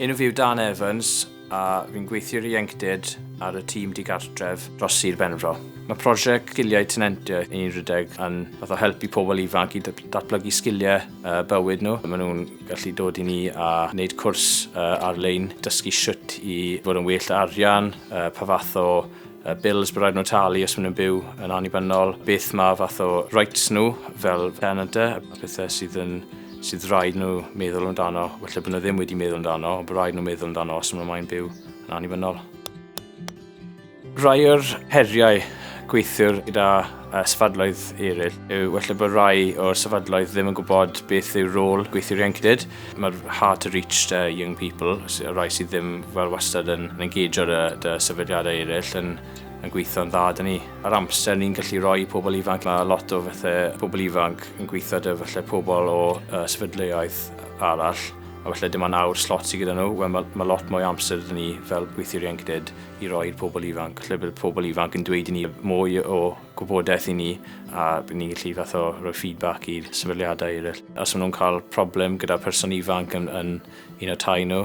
Enw fi yw Dan Evans a fi'n gweithio i'r Ieuenctid ar y tîm digartref dros Sir Benfro. Mae prosiect Sgiliau Tenantiaeth yn rhedeg yn fath o help i pobl ifanc i datblygu sgiliau bywyd nhw. Maen nhw'n gallu dod i ni a wneud cwrs ar-lein, dysgu sut i fod yn well â arian, pa fath o bills bydd rhaid nhw talu os maen nhw'n byw yn annibynnol, beth mae fath o rights nhw fel tenant a pethau sydd yn sydd rhaid nhw meddwl amdano, felly bod nhw ddim wedi meddwl amdano, ond bod rhaid nhw meddwl amdano os maen nhw'n byw yn annibynnol. Rhai o'r heriau gweithiwr gyda sefydloedd eraill yw felly bod rhai o'r sefydloedd ddim yn gwybod beth yw rôl gweithiwr ieuenctid. Mae'r hard to reach the young people, y rhai sydd ddim fel wastad yn engage o'r sefydliadau eraill, yn, yn gweithio'n dda dyn ni. Yr amser ni'n gallu rhoi i pobl ifanc, mae lot o falle pobl ifanc yn gweithio dy falle pobl o uh, sefydliaeth arall, a falle dim ond awr slot sydd gyda nhw, well, mae, mae lot mwy amser dyn ni fel gweithiwr ieuenctid i roi i'r pobl ifanc. Lle bydd pobl ifanc yn dweud i ni mwy o gwybodaeth i ni a bydd ni'n gallu fath o rhoi feedback i'r sefydliadau eraill. Os maen nhw'n cael problem gyda person ifanc yn, yn un o tai nhw,